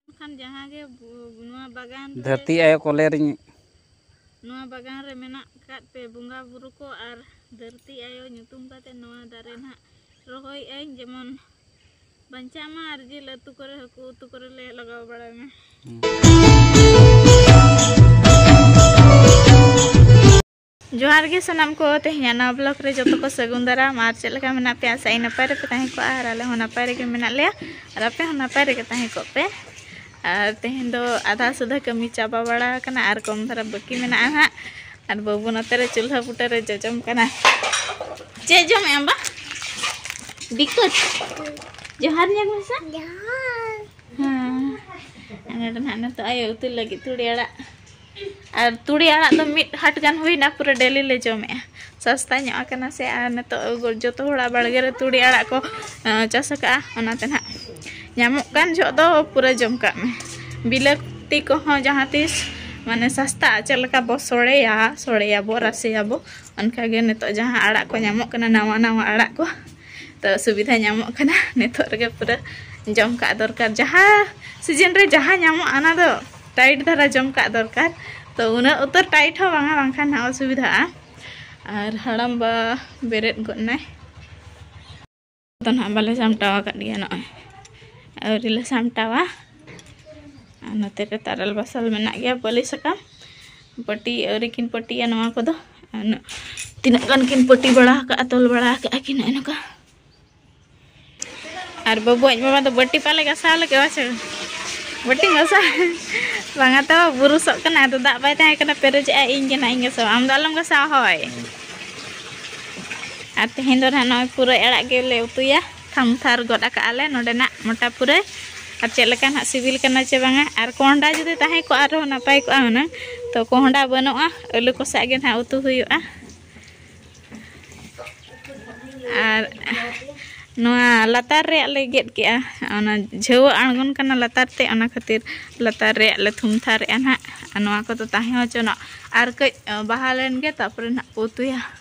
ᱢᱮᱱᱠᱷᱟᱱ ᱡᱟᱦᱟᱸ ᱜᱮ ᱱᱚᱣᱟ ᱵᱟᱜᱟᱱ ᱫᱷᱟᱹᱨᱛᱤ ᱟᱭᱳ ᱠᱚᱞᱮ ᱨᱤᱧ ᱱᱚᱣᱟ ᱵᱟᱜᱟᱱ ᱨᱮ ᱢᱮᱱᱟᱜ ᱠᱟᱫ ᱯᱮ ᱵᱚᱸᱜᱟ ᱵᱩᱨᱩ ᱠᱚ ᱟᱨ ᱫᱷᱟᱹᱨᱛᱤ ᱟᱭᱳ ᱧᱩᱛᱩᱢ ᱠᱟᱛᱮ ᱱᱚᱣᱟ ᱫᱟᱨᱮ ᱱᱟᱜ ᱨᱚᱦᱚᱭ ᱟᱹᱧ ᱡᱮᱢᱚᱱ ᱵᱟᱧᱪᱟᱜ ᱢᱟ ᱟᱨ ᱡᱤᱞ ᱟᱹᱛᱩ ᱠᱚᱨᱮ ᱦᱟᱹᱠᱩ ᱩᱛᱩ ᱠᱚᱨᱮ ᱞᱮ ᱞᱟᱜᱟᱣ ᱵᱟᱲᱟᱭ ᱢᱟ ᱡᱚᱦᱟᱨ ᱜᱮ ᱥᱟᱱᱟᱢ ᱠᱚ ᱛᱮᱦᱮᱧᱟᱜ ᱱᱟᱣᱟ ᱵᱞᱚᱜ ᱨᱮ ᱡᱚᱛᱚ ᱠᱚ ᱥᱟᱹᱜᱩᱱ ᱫᱟᱨᱟᱢ ᱟᱨ ᱪᱮᱫ ᱞᱮᱠᱟ ᱢᱮᱱᱟᱜ ᱯᱮᱭᱟ ᱥᱟᱭ ᱱᱟᱯᱟᱭ ᱨᱮᱯᱮ ᱛᱟᱦᱮᱸ ᱠᱚᱜᱼᱟ ᱟᱨ ᱟᱞᱮ ᱦᱚᱸ ᱱᱟᱯᱟᱭ ᱨᱮᱜᱮ ᱢᱮᱱᱟᱜ ᱞᱮᱭᱟ ᱟᱨ ᱟᱯᱮ ᱦᱚᱸ ᱱᱟᱯᱟᱭ ᱨᱮᱜᱮ ᱛᱟᱦᱮᱸ ᱠᱚᱜ ᱯᱮ ᱟᱨ ᱛᱮᱦᱮᱧ ᱫᱚ ᱟᱫᱷᱟ ᱥᱩᱫᱷᱟ ᱠᱟᱹᱢᱤ ᱪᱟᱵᱟ ᱵᱟᱲᱟ ᱟᱠᱟᱱᱟ ᱟᱨ ᱠᱚᱢ ᱫᱷᱟᱨᱟ ᱵᱟᱹᱠᱤ ᱢᱮᱱᱟᱜᱼᱟ ᱦᱟᱸᱜ ᱟᱨ ᱵᱟᱹᱵᱩ ᱱᱚᱛᱮ ᱨᱮ ᱪᱩᱞᱦᱟᱹ ᱵᱩᱴᱟᱹ ᱨᱮ ᱡᱚᱡᱚᱢ ᱠᱟᱱᱟ ᱪᱮᱫ ᱡᱚᱢᱮᱫ ᱟᱢ ᱵᱟ ᱵᱤᱠᱩᱡ ᱡᱚᱦᱟᱨ ᱧᱮᱞ ᱢᱮᱥᱮ ᱡᱚᱦᱟᱨ ᱦᱮᱸ ᱱᱚᱰᱮ ᱱᱟᱦᱟᱜ ᱱᱤᱛᱚᱜ ᱟᱭᱳ ᱩᱛᱩ ᱞᱟᱹᱜᱤᱫ ᱛᱩᱲᱤ ᱟᱲᱟᱜ ᱟᱨ ᱛᱩᱲᱤ ᱟᱲᱟᱜ ᱫᱚ ᱢᱤᱫ ᱦᱟᱴ ᱜᱟᱱ ᱦᱩᱭᱱᱟ ᱯᱩᱨᱟᱹ ᱰᱮᱞᱤ ᱞᱮ ᱡᱚᱢᱮᱜᱼᱟ ᱥᱟᱥᱛᱟ ᱧᱚᱜ ᱟᱠᱟᱱᱟ ᱥᱮ ᱟᱨ ᱱᱤᱛᱚᱜ ᱡᱚᱛᱚ ᱦᱚᱲᱟᱜ ᱵᱟᱲᱜᱮ ᱨᱮ ᱛᱩᱲᱤ ᱟᱲᱟᱜ ᱠᱚ ᱪᱟᱥ ᱟᱠᱟᱜᱼᱟ ᱚᱱᱟᱛᱮ ᱱᱟᱜ ᱧᱟᱢᱚᱜ ᱠᱟᱱ ᱡᱚᱜ ᱫᱚ ᱯᱩᱨᱟᱹ ᱡᱚᱢ ᱠᱟᱜ ᱢᱮ ᱵᱤᱞᱟᱹᱛᱤ ᱠᱚᱦᱚᱸ ᱡᱟᱦᱟᱸ ᱛᱤᱥ ᱢᱟᱱᱮ ᱥᱟᱥᱛᱟ ᱪᱮᱫ ᱞᱮᱠᱟ ᱵᱚ ᱥᱚᱲᱮᱭᱟ ᱥᱚᱲᱮᱭᱟᱵᱚ ᱨᱟᱥᱮᱭᱟᱵᱚ ᱚᱱᱠᱟᱜᱮ ᱱᱤᱛᱚᱜ ᱡᱟᱦᱟᱸ ᱟᱲᱟᱜ ᱠᱚ ᱧᱟᱢᱚᱜ ᱠᱟᱱᱟ ᱱᱟᱣᱟ ᱱᱟᱣᱟ ᱟᱲᱟᱜ ᱠᱚ ᱛᱚ ᱥᱩᱵᱤᱫᱷᱟ ᱧᱟᱢᱚᱜ ᱠᱟᱱᱟ ᱱᱤᱛᱚᱜ ᱨᱮᱜᱮ ᱯᱩᱨᱟᱹ ᱡᱚᱢ ᱠᱟᱜ ᱫᱚᱨᱠᱟᱨ ᱡᱟᱦᱟᱸ ᱥᱤᱡᱤᱱ ᱨᱮ ᱡᱟᱦᱟᱸ ᱧᱟᱢᱚᱜᱼᱟ ᱚᱱᱟ ᱫᱚ ᱴᱟᱭᱤᱴ ᱫᱷᱟᱨᱟ ᱡᱚᱢ ᱠᱟᱜ ᱫᱚᱨᱠᱟᱨ ᱛᱚ ᱩᱱᱟᱹᱜ ᱩᱛᱟᱹᱨ ᱴᱟᱭᱤᱴ ᱦᱚᱸ ᱵᱟᱝᱟ ᱵᱟᱝᱠᱷᱟᱱ ᱦᱟᱸᱜ ᱚᱥᱩᱵᱤᱫᱷᱟᱜᱼᱟ ᱟᱨ ᱦᱟᱲᱟᱢ ᱵᱟ ᱵᱮᱨᱮᱫ ᱜᱚᱫ ᱱᱟᱭ ᱫᱚ ᱱᱟᱦᱟᱜ ᱵᱟᱞᱮ ᱥᱟᱢᱴᱟᱣ ᱟᱠᱟᱫ ᱜᱮᱭᱟ ᱱᱚᱜᱼᱚᱭ ᱟᱹᱣᱨᱤ ᱞᱮ ᱥᱟᱢᱴᱟᱣᱟ ᱟᱨ ᱱᱚᱛᱮ ᱨᱮ ᱛᱟᱨᱮᱞ ᱵᱟᱥᱟᱞ ᱢᱮᱱᱟᱜ ᱜᱮᱭᱟ ᱵᱟᱹᱞᱤ ᱥᱟᱠᱟᱢ ᱯᱟᱹᱴᱤ ᱟᱹᱣᱨᱤ ᱠᱤᱱ ᱯᱟᱹᱴᱤᱭᱟ ᱱᱚᱣᱟ ᱠᱚᱫᱚ ᱛᱤᱱᱟᱹᱜ ᱜᱟᱱ ᱠᱤᱱ ᱯᱟᱹᱴᱤ ᱵᱟᱲᱟ ᱟᱠᱟᱫᱼᱟ ᱛᱚᱞ ᱵᱟᱲᱟ ᱟᱠᱟᱫᱼᱟ ᱠᱤᱱ ᱱᱚᱜᱼᱚᱭ ᱱᱚᱝᱠᱟ ᱟᱨ ᱵᱟᱹᱵᱩ ᱟᱡ ᱢᱟᱢᱟ ᱫᱚ ᱵᱟᱹᱴᱤ ᱯᱟᱞᱮ ᱜᱟᱥᱟᱣ ᱞᱟᱹᱜᱤᱫ ᱵᱟᱪᱚ ᱵᱟᱹᱴᱤ ᱜᱟᱥᱟᱣ ᱵᱟᱝᱟ ᱛᱚ ᱵᱩᱨᱩᱥᱚᱜ ᱠᱟᱱᱟ ᱟᱫᱚ ᱫᱟᱜ ᱵᱟᱭ ᱛᱟᱦᱮᱸ ᱠᱟᱱᱟ ᱯᱮᱨᱮᱡᱮᱜᱼᱟ ᱤᱧ ᱜᱮ ᱱᱟᱦᱟᱜ ᱤᱧ ᱜᱟᱥᱟᱣᱟ ᱟᱢ ᱫᱚ ᱟᱞᱚᱢ ᱜᱟᱥᱟᱣᱟ ᱦᱳᱭ ᱟᱨ ᱛᱮᱦᱮᱧ ᱫᱚ ᱱᱟᱦᱟᱜ ᱱᱚᱜᱼᱚᱭ ᱯᱩᱨᱟᱹᱭ ᱟᱲᱟᱜ ᱜᱮᱞᱮ ᱩᱛᱩᱭᱟ ᱛᱷᱟᱢ ᱛᱷᱟᱨ ᱜᱚᱫ ᱟᱠᱟᱫ ᱟᱞᱮ ᱱᱚᱰᱮᱱᱟᱜ ᱢᱚᱴᱟ ᱯᱩᱨᱟᱹ ᱟᱨ ᱪᱮᱫ ᱞᱮᱠᱟ ᱱᱟᱜ ᱥᱤᱵᱤᱞ ᱠᱟᱱᱟ ᱪᱮ ᱵᱟᱝᱟ ᱟᱨ ᱠᱚᱦᱚᱸᱰᱟ ᱡᱩᱫᱤ ᱛᱟᱦᱮᱸ ᱠᱚᱜᱼᱟ ᱟᱨᱦᱚᱸ ᱱᱟᱯᱟᱭ ᱠᱚᱜᱼᱟ ᱦᱩᱱᱟᱹᱝ ᱛᱚ ᱠᱚᱦᱚᱸᱰᱟ ᱵᱟᱹᱱᱩᱜᱼᱟ ᱟᱹᱞᱩ ᱠᱚ ᱥᱟᱜ ᱜᱮ ᱱᱟᱜ ᱩᱛᱩ ᱦᱩᱭᱩᱜᱼᱟ ᱟᱨ ᱱᱚᱣᱟ ᱞᱟᱛᱟᱨ ᱨᱮᱭᱟᱜ ᱞᱮ ᱜᱮᱫ ᱠᱮᱜᱼᱟ ᱚᱱᱟ ᱡᱷᱟᱹᱣᱟᱹ ᱟᱬᱜᱚᱱ ᱠᱟᱱᱟ ᱞᱟᱛᱟᱨ ᱛᱮ ᱚᱱᱟ ᱠᱷᱟᱹᱛᱤᱨ ᱞᱟᱛᱟᱨ ᱨᱮᱭᱟᱜ ᱞᱮ ᱛᱷᱩᱢ ᱛᱷᱟᱨᱮᱜᱼᱟ ᱱᱟᱜ ᱟᱨ ᱱᱚᱣᱟ ᱠᱚᱫᱚ ᱛᱟᱦᱮᱸ ᱦᱚᱪᱚᱱᱚᱜ ᱟᱨ ᱠᱟᱹᱡ ᱵᱟᱦᱟ ᱞᱮᱱᱜᱮ ᱛᱟᱨᱯᱚᱨᱮ ᱱᱟᱜ ᱠᱚ ᱩᱛᱩᱭᱟ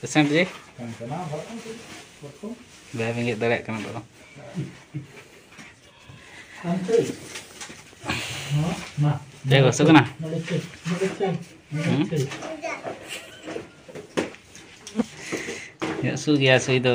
ᱯᱮᱥᱮᱱᱴ ᱡᱮ ᱵᱟᱭ ᱵᱮᱸᱜᱮᱫ ᱫᱟᱲᱮᱭᱟᱜ ᱠᱟᱱᱟ ᱫᱚ ᱪᱮᱫ ᱜᱚᱥᱚ ᱠᱟᱱᱟ ᱦᱟᱹᱥᱩ ᱜᱮᱭᱟ ᱥᱩᱭ ᱫᱚ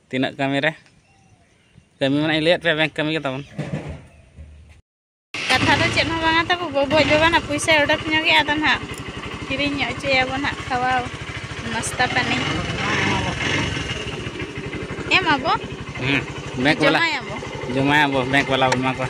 ᱛᱤᱱᱟᱹᱜ ᱠᱟᱹᱢᱤ ᱨᱮ ᱠᱟᱹᱢᱤ ᱢᱟᱱᱮ ᱤᱧ ᱞᱟᱹᱭᱟᱫ ᱯᱮᱭᱟ ᱵᱮᱝᱠ ᱠᱟᱹᱢᱤ ᱜᱮ ᱛᱟᱵᱚᱱ ᱠᱟᱛᱷᱟ ᱫᱚ ᱪᱮᱫ ᱦᱚᱸ ᱵᱟᱝᱟ ᱛᱟᱵᱚ ᱜᱚᱜᱚᱡ ᱵᱟᱵᱟ ᱱᱟᱜ ᱯᱩᱭᱥᱟᱹ ᱚᱰᱚᱠ ᱧᱚᱜᱮ ᱟᱫᱚ ᱱᱟᱜ ᱠᱤᱨᱤᱧ ᱧᱚᱜ ᱦᱚᱪᱚᱭᱟᱵᱚ ᱱᱟᱜ ᱠᱷᱟᱣᱟ ᱱᱟᱥᱛᱟ ᱯᱟᱹᱱᱤ ᱮᱢᱟᱵᱚ ᱵᱮᱝᱠ ᱵᱟᱞᱟ ᱡᱚᱢᱟᱭᱟᱵᱚ ᱡᱚᱢᱟᱭᱟᱵᱚ ᱵᱮᱝᱠ ᱵᱟᱞᱟ ᱵᱚᱱ ᱮᱢᱟ ᱠᱚᱣᱟ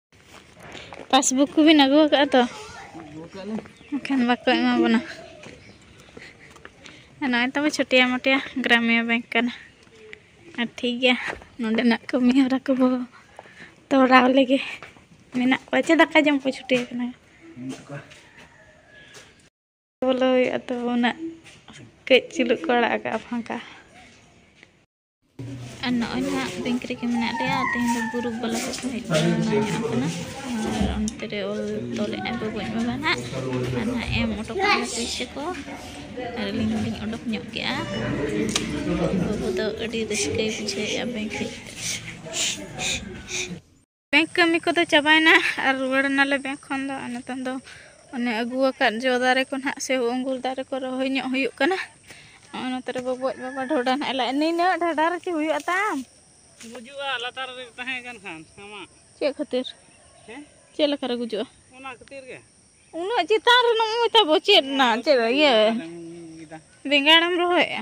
ᱯᱟᱥᱵᱩᱠ ᱠᱚᱵᱤᱱ ᱟᱹᱜᱩ ᱟᱠᱟᱫᱼᱟ ᱛᱚ ᱮᱱᱠᱷᱟᱱ ᱵᱟᱠᱚ ᱮᱢᱟ ᱵᱚᱱᱟ ᱱᱚᱜᱼᱚᱭ ᱛᱟᱵᱚ ᱪᱷᱩᱴᱤᱭᱟ ᱢᱚᱴᱤᱭᱟ ᱜᱨᱟᱢᱤᱭᱟ ᱵᱮᱝᱠ ᱠᱟᱱᱟ ᱟᱨ ᱴᱷᱤᱠ ᱜᱮᱭᱟ ᱱᱚᱰᱮᱱᱟᱜ ᱠᱟᱹᱢᱤ ᱦᱚᱨᱟ ᱠᱚᱵᱚ ᱛᱚᱨᱟᱣ ᱞᱮᱜᱮ ᱢᱮᱱᱟᱜ ᱠᱚᱣᱟ ᱪᱮ ᱫᱟᱠᱟ ᱡᱚᱢ ᱠᱚ ᱪᱷᱩᱴᱤ ᱟᱠᱟᱱᱟ ᱵᱚᱞᱚ ᱦᱩᱭᱩᱜᱼᱟ ᱛᱚ ᱩᱱᱟᱹᱜ ᱠᱟᱹᱡ ᱪᱩᱞᱩᱜ ᱠᱚ ᱟᱲᱟᱜ ᱟᱠᱟᱫᱼᱟ ᱯᱷᱟᱸᱠᱟ ᱟᱨ ᱱᱚᱜᱼᱚᱭ ᱱᱟᱦᱟᱜ ᱵᱮᱝᱠ ᱨᱮᱜᱮ ᱢᱮᱱᱟᱜ ᱞᱮᱭᱟ ᱛᱮᱦᱮᱧ ᱫᱚ ᱜᱩᱨᱩᱯ ᱵᱟᱞᱟ ᱠᱚᱠᱚ ᱦᱮᱡ ᱵᱟᱲᱟ ᱧᱚᱜ ᱟᱠᱟᱱᱟ ᱟᱨ ᱚᱱᱛᱮ ᱨᱮ ᱚᱞ ᱛᱚᱞᱮᱫ ᱟᱭ ᱵᱟᱵᱩᱡ ᱵᱟᱵᱟ ᱱᱟᱦᱟᱜ ᱟᱨ ᱱᱟᱦᱟᱜ ᱮᱢ ᱚᱰᱚᱠ ᱠᱮᱫᱟ ᱯᱩᱭᱥᱟᱹ ᱠᱚ ᱟᱨ ᱟᱹᱞᱤᱧ ᱦᱚᱸᱞᱤᱧ ᱚᱰᱚᱠ ᱧᱚᱜ ᱠᱮᱜᱼᱟ ᱵᱟᱹᱵᱩ ᱫᱚ ᱟᱹᱰᱤ ᱨᱟᱹᱥᱠᱟᱹᱭ ᱵᱩᱡᱷᱟᱹᱣᱮᱫᱼᱟ ᱵᱮᱝᱠ ᱦᱮᱡ ᱠᱟᱛᱮᱫ ᱵᱮᱝᱠ ᱠᱟᱹᱢᱤ ᱠᱚᱫᱚ ᱪᱟᱵᱟᱭᱮᱱᱟ ᱟᱨ ᱨᱩᱣᱟᱹᱲ ᱮᱱᱟᱞᱮ ᱵᱮᱝᱠ ᱠᱷᱚᱱ ᱫᱚ ᱟᱨ ᱱᱤᱛᱚᱝ ᱫᱚ ᱚᱱᱮ ᱟᱹᱜᱩ ᱟᱠᱟᱫ ᱡᱚ ᱫᱟᱨᱮ ᱠᱚ ᱱᱟᱦᱟᱜ ᱥᱮ ᱟᱺᱜᱩᱨ ᱫᱟᱨᱮ ᱠᱚ ᱨᱚᱦᱚᱭ ᱧᱚᱜ ᱦᱩᱭᱩᱜ ᱠᱟᱱᱟ ᱱᱚᱜᱼᱚᱭ ᱱᱚᱛᱮ ᱨᱮ ᱵᱟᱹᱵᱩᱣᱟᱜ ᱵᱟᱵᱟ ᱰᱷᱚᱰᱟ ᱱᱟᱦᱟᱜ ᱞᱟᱡ ᱱᱤᱱᱟᱹᱜ ᱰᱷᱟᱰᱟ ᱨᱮ ᱪᱮᱫ ᱦᱩᱭᱩᱜᱼᱟ ᱛᱟᱢ ᱜᱩᱡᱩᱜᱼᱟ ᱞᱟᱛᱟᱨ ᱨᱮ ᱛᱟᱦᱮᱸ ᱠᱟᱱ ᱠᱷᱟᱱ ᱟᱢᱟᱜ ᱪᱮᱫ ᱠᱷᱟᱹᱛᱤᱨ ᱦᱮᱸ ᱪᱮᱫ ᱞᱮᱠᱟ ᱨᱮ ᱜᱩᱡᱩᱜᱼᱟ ᱚᱱᱟ ᱠᱷᱟᱹᱛᱤᱨ ᱜᱮ ᱩᱱᱟᱹᱜ ᱪᱮᱛᱟᱱ ᱨᱮ ᱱᱚᱜᱼᱚᱭ ᱛᱟᱵᱚ ᱪᱮᱫ ᱨᱮᱱᱟᱜ ᱪᱮᱫ ᱤᱭᱟᱹ ᱵᱮᱸᱜᱟᱲᱮᱢ ᱨᱚᱦᱚᱭᱮᱜᱼᱟ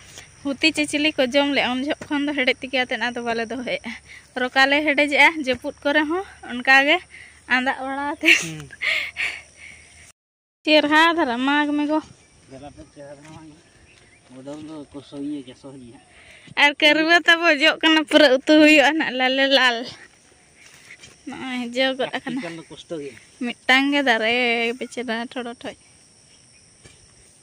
ᱦᱩᱛᱤ ᱪᱮ ᱪᱤᱞᱤ ᱠᱚ ᱡᱚᱢ ᱞᱮᱫᱼᱟ ᱩᱱ ᱡᱚᱦᱚᱜ ᱠᱷᱚᱱ ᱫᱚ ᱦᱮᱰᱮᱡ ᱛᱮᱜᱮ ᱟᱛᱮᱫ ᱟᱫᱚ ᱵᱟᱞᱮ ᱫᱚᱦᱚᱭᱮᱫᱼᱟ ᱨᱚᱠᱟ ᱞᱮ ᱦᱮᱰᱮᱡᱮᱜᱼᱟ ᱡᱟᱹᱯᱩᱫ ᱠᱚᱨᱮ ᱦᱚᱸ ᱚᱱᱠᱟ ᱜᱮ ᱟᱸᱫᱟᱜ ᱵᱟᱲᱟ ᱟᱛᱮ ᱪᱮᱨᱦᱟ ᱫᱷᱟᱨᱟ ᱢᱟᱜᱽ ᱢᱮᱜᱚ ᱟᱨ ᱠᱟᱹᱨᱩᱣᱟᱹ ᱛᱟᱵᱚ ᱡᱚᱜ ᱠᱟᱱᱟ ᱯᱩᱨᱟᱹ ᱩᱛᱩ ᱦᱩᱭᱩᱜᱼᱟ ᱱᱟᱜ ᱞᱟᱞᱮ ᱞᱟᱞ ᱱᱚᱜᱼᱚᱭ ᱡᱚ ᱜᱚᱫ ᱟᱠᱟᱱᱟ ᱢᱤᱫᱴᱟᱝ ᱜᱮ ᱫᱟᱨᱮ ᱵᱮᱪᱮᱫᱟ ᱴᱷᱚᱲᱚ ᱴᱷᱚᱡ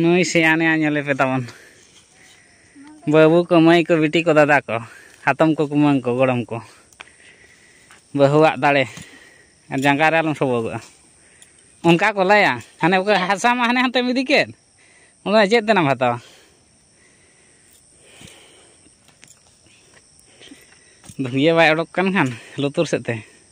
ᱱᱩᱭ ᱥᱮᱭᱟᱱᱮ ᱧᱮᱞᱮ ᱯᱮ ᱛᱟᱵᱚᱱ ᱵᱟᱹᱵᱩ ᱠᱚ ᱢᱟᱹᱭ ᱠᱚ ᱵᱤᱴᱤ ᱠᱚ ᱫᱟᱫᱟ ᱠᱚ ᱦᱟᱛᱚᱢ ᱠᱚ ᱠᱩᱢᱟᱹᱝ ᱠᱚ ᱜᱚᱲᱚᱢ ᱠᱚ ᱵᱟᱹᱦᱩᱣᱟᱜ ᱫᱟᱲᱮ ᱟᱨ ᱡᱟᱸᱜᱟ ᱨᱮ ᱟᱞᱚᱢ ᱥᱚᱵᱚᱜᱚᱜᱼᱟ ᱚᱱᱠᱟ ᱠᱚ ᱞᱟᱹᱭᱟ ᱦᱟᱱᱮ ᱚᱠᱟ ᱦᱟᱥᱟ ᱢᱟ ᱦᱟᱱᱮ ᱦᱟᱱᱛᱮᱢ ᱤᱫᱤ ᱠᱮᱫ ᱚᱱᱟ ᱪᱮᱫ ᱛᱮᱱᱟᱢ ᱦᱟᱛᱟᱣᱟ ᱫᱷᱩᱝᱜᱤᱭᱟᱹ ᱵᱟᱭ ᱚᱰᱚᱠ ᱠᱟᱱ ᱠᱷᱟᱱ ᱞᱩᱛᱩᱨ ᱥᱮᱫ ᱛᱮ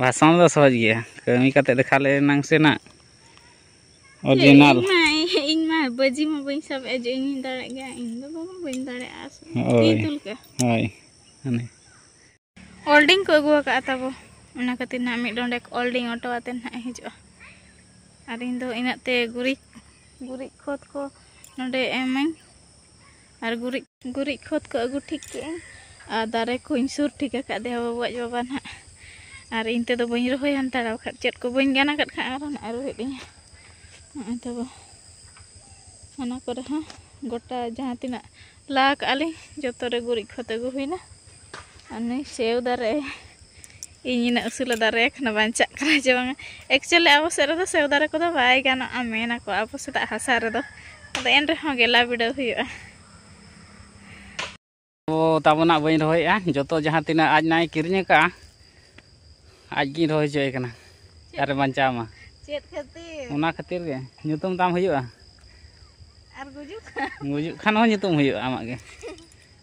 ᱵᱷᱟᱥᱚᱱ ᱫᱚ ᱥᱚᱦᱚᱡᱽ ᱜᱮᱭᱟ ᱠᱟᱹᱢᱤ ᱠᱟᱛᱮ ᱫᱮᱠᱷᱟ ᱞᱮ ᱮᱱᱟᱝ ᱥᱮ ᱱᱟᱜ ᱚᱨᱤᱡᱤᱱᱟᱞ ᱤᱧ ᱢᱟ ᱵᱟᱹᱡᱤ ᱢᱟ ᱵᱟᱹᱧ ᱥᱟᱵ ᱮᱫ ᱡᱮ ᱤᱧ ᱫᱟᱲᱮᱭᱟᱜ ᱜᱮᱭᱟ ᱤᱧ ᱫᱚ ᱵᱟᱵᱟ ᱵᱟᱹᱧ ᱫᱟᱲᱮᱭᱟᱜᱼᱟ ᱦᱳᱭ ᱦᱳᱭ ᱦᱟᱱᱮ ᱚᱞᱰᱤᱝ ᱠᱚ ᱟᱹᱜᱩ ᱟᱠᱟᱫᱼᱟ ᱛᱟᱵᱚ ᱚᱱᱟ ᱠᱷᱟᱹᱛᱤᱨ ᱱᱟᱜ ᱢᱤᱫ ᱰᱚᱸᱰᱮᱠ ᱚᱞᱰᱤᱝ ᱚᱴᱚ ᱟᱛᱮ ᱱᱟᱜ ᱦᱤᱡᱩᱜᱼᱟ ᱟᱨ ᱤᱧ ᱫᱚ ᱤᱱᱟᱹᱜ ᱛᱮ ᱜᱩᱨᱤᱡ ᱜᱩᱨᱤᱡ ᱠᱷᱚᱛ ᱠᱚ ᱱᱚᱰᱮ ᱮᱢᱟᱹᱧ ᱟᱨ ᱜᱩᱨᱤᱡ ᱜᱩᱨᱤᱡ ᱠᱷᱚᱛ ᱠᱚ ᱟᱹᱜᱩ ᱴᱷᱤᱠ ᱠᱮᱜᱼᱟᱹᱧ ᱟᱨ ᱫᱟᱨᱮ ᱠᱚᱧ ᱥᱩᱨ ᱴᱷᱤᱠ ᱟᱠᱟᱫ ᱫᱮᱣ ᱵᱟᱹᱵᱩ ᱟᱡ ᱵᱟᱵᱟ ᱱᱟᱦᱟᱜ ᱟᱨ ᱤᱧ ᱛᱮᱫᱚ ᱵᱟᱹᱧ ᱨᱚᱦᱚᱭ ᱦᱟᱱᱛᱟᱲᱟ ᱵᱟᱠᱷᱟᱡ ᱪᱮᱫ ᱠᱚ ᱵᱟᱹᱧ ᱜᱟᱱ ᱟᱠᱟᱫ ᱠᱷᱟᱱ ᱟᱨᱦᱚᱸ ᱱᱟᱦᱟᱜ ᱨᱩᱦᱮᱫ ᱤᱧ ᱱᱚᱜᱼᱚᱭ ᱛᱟᱵᱚ ᱚᱱᱟ ᱠᱚᱨᱮ ᱦᱚᱸ ᱜᱚᱴᱟ ᱡᱟᱦᱟᱸ ᱛᱤᱱᱟᱹᱜ ᱞᱟ ᱠᱟᱜᱼᱟ ᱞᱤᱧ ᱡᱚᱛᱚ ᱨᱮ ᱜᱩᱨᱤᱡ ᱠᱷᱚᱛ ᱟᱹᱜᱩ ᱦᱩᱭᱱᱟ ᱩᱱᱤ ᱥᱮᱣ ᱫᱟᱨᱮ ᱤᱧ ᱤᱱᱟᱹᱜ ᱩᱥᱩᱞᱮ ᱫᱟᱨᱮ ᱟᱠᱟᱱᱟ ᱵᱟᱧᱪᱟᱜ ᱠᱟᱱᱟ ᱪᱮ ᱵᱟᱝᱟ ᱮᱠᱪᱩᱭᱮᱞᱤ ᱟᱵᱚ ᱥᱮᱫ ᱨᱮᱫᱚ ᱥᱮᱣ ᱫᱟᱨᱮ ᱠᱚᱫᱚ ᱵᱟᱭ ᱜᱟᱱᱚᱜᱼᱟ ᱢᱮᱱᱟᱠᱚ ᱟᱵᱚ ᱥᱮᱫᱟᱜ ᱦᱟᱥᱟ ᱨᱮᱫᱚ ᱟᱫᱚ ᱮᱱ ᱨᱮᱦᱚᱸ ᱜᱮᱞᱟ ᱵᱤᱰᱟᱹᱣ ᱦᱩᱭᱩᱜᱼᱟ ᱛᱚ ᱛᱟᱵᱚᱱᱟᱜ ᱵᱟᱹᱧ ᱨᱚᱦᱚᱭᱮᱜᱼᱟ ᱡᱚᱛᱚ ᱡᱟᱦᱟᱸ ᱛᱤᱱᱟᱹᱜ ᱟᱡ ᱱᱟᱭ ᱠᱤᱨᱤᱧ ᱟᱠᱟᱜᱼᱟ ᱟᱡ ᱜᱤᱧ ᱨᱚᱦᱚᱭ ᱦᱚᱪᱚᱭᱮ ᱠᱟᱱᱟ ᱟᱨ ᱵᱟᱧᱪᱟᱣ ᱢᱟ ᱪᱮᱫ ᱠᱷᱟᱹᱛᱤᱨ ᱚᱱᱟ ᱠᱷᱟᱹᱛᱤᱨ ᱜᱮ ᱧᱩᱛᱩᱢ ᱛᱟᱢ ᱦᱩᱭᱩᱜᱼᱟ ᱟᱨ ᱜᱩᱡᱩᱜ ᱠᱷᱟᱱ ᱜᱩᱡᱩᱜ ᱠᱷᱟᱱ ᱦᱚᱸ ᱧᱩᱛᱩᱢ ᱦᱩᱭᱩᱜᱼᱟ ᱟᱢᱟᱜ ᱜᱮ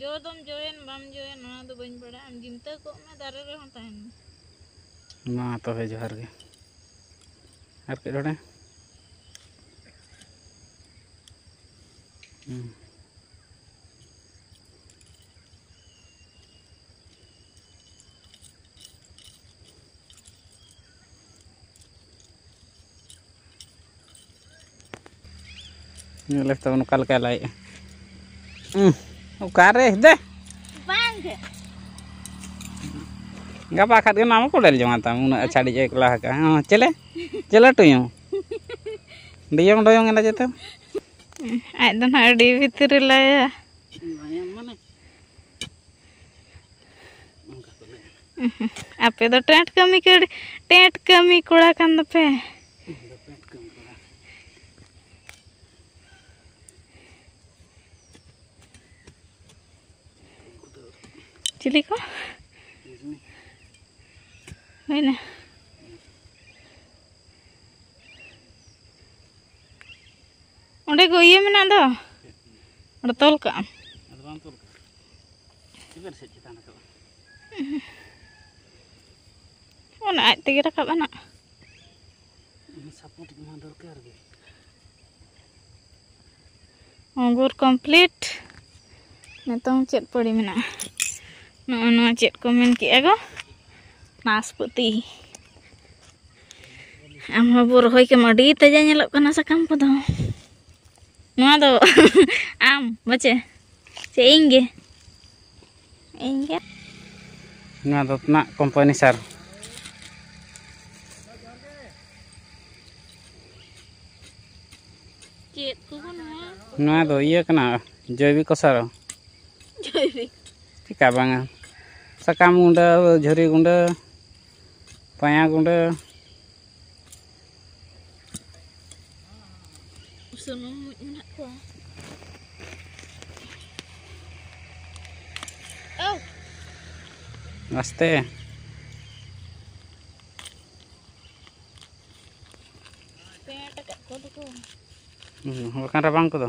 ᱡᱚ ᱫᱚᱢ ᱡᱚᱭᱮᱱ ᱵᱟᱢ ᱡᱚᱭᱮᱱ ᱚᱱᱟ ᱫᱚ ᱵᱟᱹᱧ ᱵᱟᱲᱟᱭᱟ ᱟᱢ ᱡᱤᱱᱛᱟᱹ ᱠᱚᱜ ᱢᱮ ᱫᱟᱨᱮ ᱨᱮᱦᱚᱸ ᱛᱟᱦᱮᱱ ᱢᱮ ᱢᱟ ᱛᱚᱵᱮ ᱡᱚᱦᱟᱨ ᱜᱮ ᱟᱨ ᱠᱟᱹᱡ ᱱᱚᱰᱮ ᱦᱮᱸ ᱧᱮᱞ ᱞᱮ ᱛᱟᱵᱚᱱ ᱚᱠᱟ ᱞᱮᱠᱟᱭ ᱞᱟᱭᱮᱜᱼᱟ ᱚᱠᱟᱨᱮ ᱫᱮ ᱵᱟᱝᱜᱮ ᱜᱟᱯᱟ ᱠᱷᱟᱱ ᱜᱮ ᱱᱟᱢ ᱠᱚᱰᱮᱞ ᱡᱚᱢᱟ ᱛᱟᱢ ᱩᱱᱟᱹᱜ ᱟᱪᱷᱟᱲᱤ ᱡᱮ ᱠᱚᱞᱟ ᱦᱟᱠᱟ ᱦᱚᱸ ᱪᱮᱞᱮ ᱪᱮᱞᱮ ᱴᱩᱭᱚᱝ ᱰᱤᱭᱚᱝ ᱰᱚᱭᱚᱝ ᱮᱱᱟ ᱡᱮᱛᱮ ᱟᱡ ᱫᱚ ᱱᱟᱜ ᱟᱹᱰᱤ ᱵᱷᱤᱛᱨᱤ ᱨᱮ ᱞᱟᱭᱟ ᱟᱯᱮ ᱫᱚ ᱴᱮᱸᱴ ᱠᱟᱹᱢᱤ ᱠᱟᱹᱲ ᱴᱮᱸᱴ ᱠᱟᱹᱢᱤ ᱠᱚᱲᱟ ᱠᱟᱱ ᱫᱚᱯᱮ ᱪᱤᱞᱤ ᱠᱚ ᱦᱩᱭᱱᱟ ᱚᱸᱰᱮ ᱠᱚ ᱤᱭᱟᱹ ᱢᱮᱱᱟᱜ ᱫᱚ ᱚᱸᱰᱮ ᱛᱚᱞ ᱠᱟᱜᱼᱟᱢ ᱚᱱᱟ ᱟᱡ ᱛᱮᱜᱮ ᱨᱟᱠᱟᱵ ᱟᱱᱟ ᱥᱟᱯᱳᱨᱴ ᱮᱢᱟ ᱫᱚᱨᱠᱟᱨ ᱜᱮ ᱚᱝᱜᱩᱨ ᱠᱚᱢᱯᱞᱤᱴ ᱱᱤᱛᱚᱝ ᱪᱮᱫ ᱯᱟᱹᱲᱤ ᱢᱮᱱᱟᱜᱼᱟ ᱱᱚᱜᱼᱚ ᱱᱚᱣᱟ ᱪᱮᱫ ᱠᱚ ᱢᱮᱱ ᱠᱮᱜᱼᱟ ᱜᱚ ᱱᱟᱥᱯᱟᱹᱛᱤ ᱟᱢ ᱦᱚᱸ ᱵᱚ ᱨᱚᱦᱚᱭ ᱠᱮᱢ ᱟᱹᱰᱤ ᱛᱟᱡᱟ ᱧᱮᱞᱚᱜ ᱠᱟᱱᱟ ᱥᱟᱠᱟᱢ ᱠᱚᱫᱚ ᱱᱚᱣᱟ ᱫᱚ ᱟᱢ ᱵᱟᱪᱮ ᱥᱮ ᱤᱧ ᱜᱮ ᱤᱧᱜᱮ ᱱᱚᱣᱟ ᱫᱚ ᱛᱱᱟᱜ ᱠᱳᱢᱯᱟᱱᱤ ᱥᱟᱨ ᱪᱮᱫ ᱠᱚ ᱱᱚᱣᱟ ᱱᱚᱣᱟ ᱫᱚ ᱤᱭᱟᱹ ᱠᱟᱱᱟ ᱡᱚᱭᱵᱤᱠᱚ ᱥᱟᱨ ᱡᱚᱭᱵᱤᱠ ᱪᱮᱠᱟ ᱵᱟᱝᱟ ᱥᱟᱠᱟᱢ ᱜᱩᱸᱰᱟᱹ ᱡᱷᱩᱨᱤ ᱜᱩᱸᱰᱟᱹ ᱯᱟᱭᱟ ᱜᱩᱸᱰᱟᱹ ᱥᱩᱱᱩᱢ ᱢᱩᱡ ᱢᱮᱱᱟᱜ ᱠᱚᱣᱟ ᱟᱥᱛᱮ ᱵᱟᱠᱷᱟᱱ ᱨᱟᱵᱟᱝ ᱠᱚᱫᱚ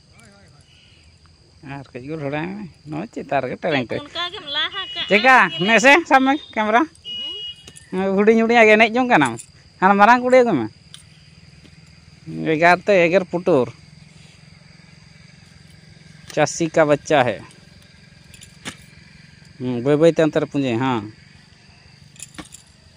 ᱟᱨ ᱠᱟᱹᱡ ᱜᱩᱞ ᱦᱚᱲᱟᱭ ᱢᱮ ᱱᱚᱣᱟ ᱪᱮᱛᱟᱱ ᱨᱮᱜᱮ ᱴᱮᱨᱮᱝ ᱴᱮᱨᱮᱝ ᱪᱮᱠᱟ ᱱᱮᱥᱮ ᱥᱟᱵ ᱢᱮ ᱠᱮᱢᱮᱨᱟ ᱦᱩᱰᱤᱧ ᱦᱩᱰᱤᱧᱟᱜ ᱜᱮ ᱮᱱᱮᱡ ᱡᱚᱝ ᱠᱟᱱᱟᱢ ᱦᱟᱱᱟ ᱢᱟᱨᱟᱝ ᱠᱩᱲᱤ ᱟᱹᱜᱩᱭ ᱢᱮ ᱮᱜᱟᱨ ᱛᱮ ᱮᱜᱮᱨ ᱯᱩᱴᱩᱨ ᱪᱟᱹᱥᱤ ᱠᱟ ᱵᱟᱪᱪᱟ ᱦᱮ ᱵᱟᱹᱭ ᱵᱟᱹᱭ ᱛᱮ ᱚᱱᱛᱮ ᱨᱮ ᱯᱩᱸᱡᱟᱹᱭ ᱦᱮᱸ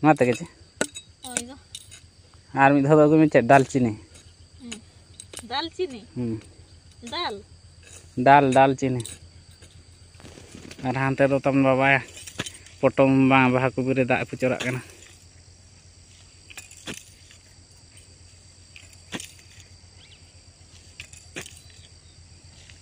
ᱱᱚᱣᱟ ᱛᱮᱜᱮ ᱪᱮ ᱟᱨ ᱢᱤᱫ ᱫᱷᱟᱣ ᱫᱚ ᱟᱹᱜᱩᱭ ᱢᱮ ᱪᱮᱫ ᱫᱟᱞᱪᱤᱱᱤ ᱫᱟᱞᱪᱤᱱᱤ ᱦᱩᱸ ᱫᱟᱞ ᱫᱟᱞ ᱫᱟᱞᱪᱤᱱᱤ ᱟᱨ ᱦᱟᱱᱛᱮ ᱫᱚ ᱛᱟᱢ ᱵᱟᱵᱟ ᱯᱚᱴᱚᱢ ᱵᱟᱝ ᱵᱟᱦᱟ ᱠᱚᱵᱤ ᱨᱮ ᱫᱟᱜ ᱯᱩᱪᱚᱨᱟᱜ ᱠᱟᱱᱟ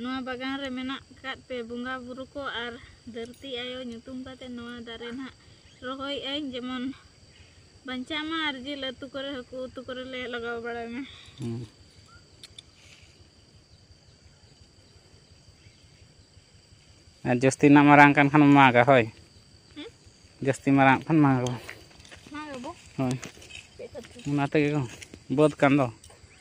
ᱱᱚᱣᱟ ᱵᱟᱜᱟᱱ ᱨᱮ ᱢᱮᱱᱟᱜ ᱟᱠᱟᱫ ᱯᱮ ᱵᱚᱸᱜᱟ ᱵᱩᱨᱩ ᱠᱚ ᱟᱨ ᱫᱷᱟᱹᱨᱛᱤ ᱟᱭᱳ ᱧᱩᱛᱩᱢ ᱠᱟᱛᱮ ᱱᱚᱣᱟ ᱫᱟᱨᱮ ᱱᱟᱦᱟᱜ ᱨᱚᱦᱚᱭᱮᱫ ᱟᱹᱧ ᱡᱮᱢᱚᱱ ᱵᱟᱧᱪᱟᱜ ᱢᱟ ᱟᱨ ᱡᱤᱞ ᱩᱛᱩ ᱠᱚᱨᱮ ᱦᱟᱹᱠᱩ ᱩᱛᱩ ᱠᱚᱨᱮ ᱞᱮ ᱞᱟᱜᱟᱣ ᱵᱟᱲᱟᱭ ᱢᱟ ᱦᱩᱸ ᱟᱨ ᱡᱟᱹᱥᱛᱤ ᱱᱟᱜ ᱢᱟᱨᱟᱝ ᱠᱟᱱ ᱠᱷᱟᱱ ᱢᱟᱜᱟ ᱦᱳᱭ ᱦᱮᱸ? ᱡᱟᱹᱥᱛᱤ ᱢᱟᱨᱟᱝ ᱠᱷᱟᱱ ᱢᱟᱜᱟ ᱵᱚᱱ ᱢᱟ ᱜᱟᱵᱚ ᱦᱳᱭ ᱪᱮᱫ ᱠᱷᱟᱹᱛᱤᱨ ᱚᱱᱟ ᱛᱮᱜᱮ ᱠᱚ ᱵᱟᱹᱫᱽ ᱠᱟᱱ ᱫᱚ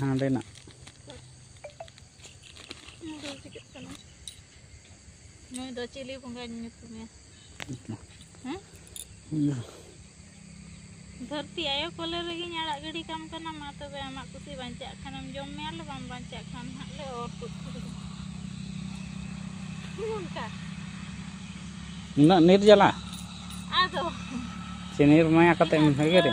ᱦᱟᱸᱰᱮᱱᱟᱜ ᱱᱩᱭ ᱫᱚ ᱪᱤᱞᱤ ᱵᱚᱸᱜᱟᱧ ᱧᱩᱛᱩᱢᱮ ᱦᱮᱸ ᱫᱷᱟᱹᱨᱛᱤ ᱟᱭᱳ ᱠᱚᱞᱮ ᱨᱮᱜᱮᱧ ᱟᱲᱟᱜ ᱜᱤᱰᱤ ᱠᱟᱢ ᱠᱟᱱᱟ ᱢᱟ ᱛᱚᱵᱮ ᱟᱢᱟᱜ ᱠᱩᱥᱤ ᱵᱟᱧᱪᱟᱜ ᱠᱷᱟᱱᱮᱢ ᱡᱚᱢ ᱢᱮᱭᱟ ᱞᱮ ᱵᱟᱢ ᱵᱟᱧᱪᱟᱜ ᱠᱷᱟᱱ ᱦᱟᱸᱜ ᱞᱮ ᱚᱨ ᱛᱩᱫ ᱠᱮᱫᱟ ᱚᱱᱠᱟ ᱩᱱᱟᱹᱜ ᱱᱤᱨᱡᱟᱞᱟ ᱟᱫᱚ ᱥᱮ ᱱᱤᱨᱢᱟᱭᱟ ᱠᱟᱛᱮ ᱮᱢ ᱦᱮᱜᱮᱨᱮ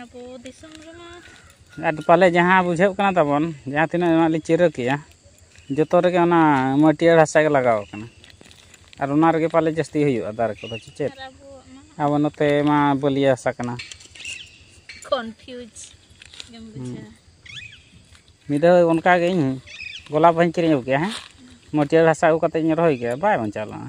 ᱟᱵᱚ ᱫᱤᱥᱚᱢ ᱨᱮᱢᱟ ᱟᱨ ᱯᱟᱞᱮ ᱡᱟᱦᱟᱸ ᱵᱩᱡᱷᱟᱹᱜ ᱠᱟᱱᱟ ᱛᱟᱵᱚᱱ ᱡᱟᱦᱟᱸ ᱛᱤᱱᱟᱹᱜ ᱱᱚᱣᱟ ᱞᱤᱧ ᱪᱤᱨᱟᱹ ᱠᱮᱜᱼᱟ ᱡᱚᱛᱚ ᱨᱮᱜᱮ ᱚᱱᱟ ᱢᱟᱹᱴᱭᱟᱹᱲ ᱦᱟᱥᱟ ᱜᱮ ᱞᱟᱜᱟᱣ ᱠᱟᱱᱟ ᱟᱨ ᱚᱱᱟ ᱨᱮᱜᱮ ᱯᱟᱞᱮ ᱡᱟᱹᱥᱛᱤ ᱦᱩᱭᱩᱜᱼᱟ ᱫᱟᱨᱮ ᱠᱚᱫᱚ ᱪᱮ ᱪᱮᱫ ᱟᱨ ᱟᱵᱚᱣᱟᱜ ᱢᱟ ᱟᱵᱚ ᱱᱚᱛᱮ ᱢᱟ ᱵᱟᱹᱞᱤᱭᱟᱹ ᱦᱟᱥᱟ ᱠᱟᱱᱟ ᱠᱚᱱᱯᱷᱤᱭᱩᱡᱽ ᱜᱮᱢ ᱵᱩᱡᱷᱟᱹᱣᱟ ᱢᱤᱫ ᱫᱷᱟᱣ ᱚᱱᱠᱟ ᱜᱮ ᱤᱧ ᱜᱳᱞᱟᱯ ᱵᱟᱦᱟᱧ ᱠᱤᱨᱤᱧ ᱟᱹᱜᱩ ᱠᱮᱜᱼᱟ ᱦᱮᱸ ᱢᱟᱹᱴᱭᱟᱹᱲ ᱦᱟᱥᱟ ᱟᱹᱜᱩ ᱠᱟᱛᱮᱫ ᱤᱧ ᱨᱚᱦᱚᱭ ᱠᱮᱜᱼᱟ ᱵᱟᱭ ᱵᱟᱧᱪᱟᱣ ᱞᱮᱱᱟ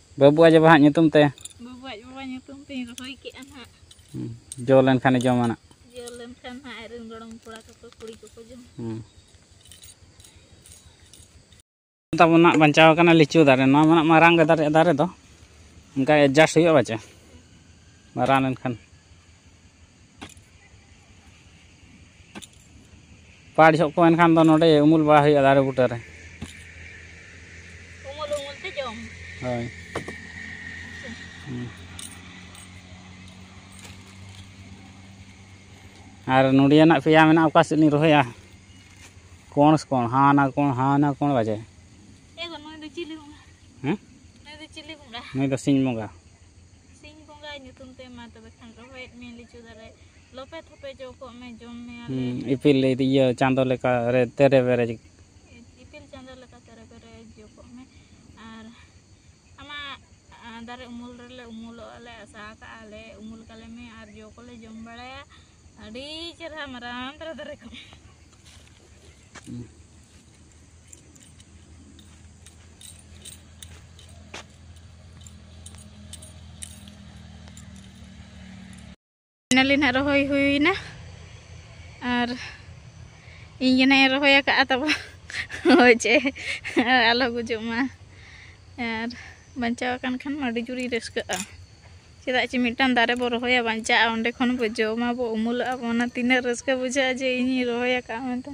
ᱵᱟᱹᱵᱩ ᱟᱡ ᱵᱟᱵᱟ ᱦᱟᱸᱜ ᱧᱩᱛᱩᱢ ᱛᱮ ᱵᱟᱹᱵᱩ ᱟᱡ ᱵᱟᱵᱟ ᱧᱩᱛᱩᱢ ᱛᱮᱧ ᱨᱚᱦᱚᱭ ᱠᱮᱜᱼᱟ ᱱᱟᱜ ᱡᱚ ᱞᱮᱱᱠᱷᱟᱱ ᱡᱚᱢᱟ ᱱᱟᱜ ᱡᱚ ᱞᱮᱱᱠᱷᱟᱱ ᱱᱟᱜ ᱟᱡ ᱨᱮᱱ ᱜᱚᱲᱚᱢ ᱠᱚᱲᱟ ᱠᱚᱠᱚ ᱠᱩᱲᱤ ᱠᱚᱠᱚ ᱡᱚᱢ ᱛᱟᱵᱚᱱ ᱱᱟᱜ ᱵᱟᱧᱪᱟᱣ ᱠᱟᱱᱟ ᱞᱤᱪᱩ ᱫᱟᱨᱮ ᱱᱚᱣᱟ ᱢᱟ ᱢᱟᱨᱟᱝ ᱜᱮ ᱫᱟᱨᱮ ᱫᱟᱨᱮ ᱫᱚ ᱚᱱᱠᱟ ᱮᱰᱡᱟᱥᱴ ᱦᱩᱭᱩᱜᱼᱟ ᱵᱟᱪᱮ ᱢᱟᱨᱟᱝ ᱞᱮᱱᱠᱷᱟᱱ ᱯᱟᱲ ᱡᱚᱜ ᱠᱚ ᱮᱱᱠᱷᱟᱱ ᱫᱚ ᱱᱚᱰᱮ ᱩᱢᱩᱞ ᱵᱟᱲᱟ ᱦᱩᱭᱩᱜᱼᱟ ᱫᱟᱨᱮ ᱵᱩᱴᱟᱹ ᱨᱮ ᱩᱢᱩᱞ ᱩᱢᱩᱞ ᱛᱮ ᱡᱚᱢ ᱦᱳᱭ ᱟᱨ ᱱᱚᱰᱮᱱᱟᱜ ᱯᱮᱭᱟ ᱢᱮᱱᱟᱜᱼᱟ ᱚᱠᱟ ᱥᱮᱫ ᱞᱤᱧ ᱨᱚᱦᱚᱭᱟ ᱠᱚᱬ ᱠᱚᱬ ᱦᱟᱱᱟ ᱠᱚᱬ ᱦᱟᱱᱟ ᱠᱚᱬ ᱵᱟᱡᱮ ᱱᱩᱭ ᱫᱚ ᱥᱤᱧ ᱵᱚᱸᱜᱟ ᱥᱤᱧ ᱵᱚᱸᱜᱟ ᱧᱩᱛᱩᱢ ᱛᱮ ᱢᱟ ᱛᱚᱵᱮ ᱠᱷᱟᱱ ᱨᱚᱦᱚᱭᱮᱫ ᱢᱮ ᱞᱤᱪᱩ ᱫᱟᱨᱮ ᱞᱚᱯᱮ ᱛᱷᱚᱯᱮ ᱡᱚ ᱠᱚᱜ ᱢᱮ ᱡᱚᱢ ᱢᱮ ᱟᱞᱮ ᱤᱯᱤᱞ ᱤᱭᱟᱹ ᱪᱟᱸᱫᱚ ᱞᱮᱠᱟ ᱨᱮ ᱛᱮᱨᱮ ᱵᱮᱨᱮ ᱤᱯᱤᱞ ᱪᱟᱸᱫᱚ ᱞᱮᱠᱟ ᱛᱮᱨᱮ ᱵᱮᱨᱮ ᱡᱚ ᱠᱚᱜ ᱢᱮ ᱟᱨ ᱟᱢᱟᱜ ᱫᱟᱨᱮ ᱩᱢᱩᱞ ᱨᱮᱞᱮ ᱩᱢᱩᱞᱚᱜ ᱟᱞᱮ ᱟᱥᱟ ᱟᱠᱟᱜᱼᱟ ᱞᱮ ᱩᱢᱩᱞ ᱠᱟᱞᱮ ᱢᱮ ᱟᱨ ᱡᱚ ᱠᱚᱞᱮ ᱡᱚᱢ ᱵᱟᱲᱟᱭᱟ ᱟᱹᱰᱤ ᱪᱮᱨᱦᱟ ᱢᱟᱨᱟᱝ ᱫᱷᱟᱨᱟ ᱫᱟᱨᱮ ᱠᱚ ᱯᱷᱟᱭᱱᱟᱞᱤ ᱱᱟᱜ ᱨᱚᱦᱚᱭ ᱦᱩᱭᱱᱟ ᱟᱨ ᱤᱧ ᱜᱮ ᱱᱟᱜ ᱨᱚᱦᱚᱭ ᱟᱠᱟᱫᱼᱟ ᱛᱟᱵᱚ ᱦᱳᱭ ᱪᱮ ᱟᱞᱚ ᱜᱩᱡᱩᱜ ᱢᱟ ᱟᱨ ᱵᱟᱧᱪᱟᱣ ᱟᱠᱟᱱ ᱠᱷᱟᱱ ᱢᱟ ᱟᱹᱰᱤ ᱡᱳᱨᱤᱧ ᱨᱟᱹᱥᱠᱟᱹᱜᱼᱟ ᱪᱮᱫᱟᱜ ᱪᱮ ᱢᱤᱫᱴᱟᱝ ᱫᱟᱨᱮ ᱵᱚ ᱨᱚᱦᱚᱭᱟ ᱵᱟᱧᱪᱟᱜᱼᱟ ᱚᱸᱰᱮ ᱠᱷᱚᱱ ᱵᱚ ᱡᱚᱢᱟ ᱵᱚ ᱩᱢᱩᱞᱚᱜᱼᱟ ᱵᱚ ᱚᱱᱟ ᱛᱤᱱᱟᱹᱜ ᱨᱟᱹᱥᱠᱟᱹ ᱵᱩᱡᱷᱟᱹᱜᱼᱟ ᱡᱮ ᱤᱧᱤᱧ ᱨᱚᱦᱚᱭ ᱟᱠᱟᱫᱼᱟ ᱢᱮᱱᱛᱮ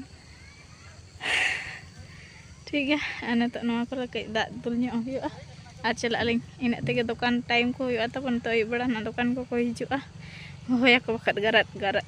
ᱴᱷᱤᱠ ᱜᱮᱭᱟ ᱟᱨ ᱱᱤᱛᱚᱜ ᱱᱚᱣᱟ ᱠᱚᱨᱮ ᱠᱟᱹᱡ ᱫᱟᱜ ᱫᱩᱞ ᱧᱚᱜ ᱦᱩᱭᱩᱜᱼᱟ ᱟᱨ ᱪᱟᱞᱟᱜ ᱟᱹᱞᱤᱧ ᱤᱱᱟᱹᱜ ᱛᱮᱜᱮ ᱫᱚᱠᱟᱱ ᱴᱟᱭᱤᱢ ᱠᱚ ᱦᱩᱭᱩᱜᱼᱟ ᱛᱟᱵᱚᱱ ᱱᱤᱛᱚᱜ ᱟᱹᱭᱩᱵ ᱵᱮᱲᱟ ᱱᱟᱜ ᱫᱚᱠᱟᱱ ᱠᱚᱠᱚ ᱦᱤᱡᱩᱜᱼᱟ ᱦᱚᱦᱚᱭᱟᱠᱚ ᱵᱟᱠᱷᱟᱡ ᱜᱟᱨᱟᱫ ᱜᱟᱨᱟᱫ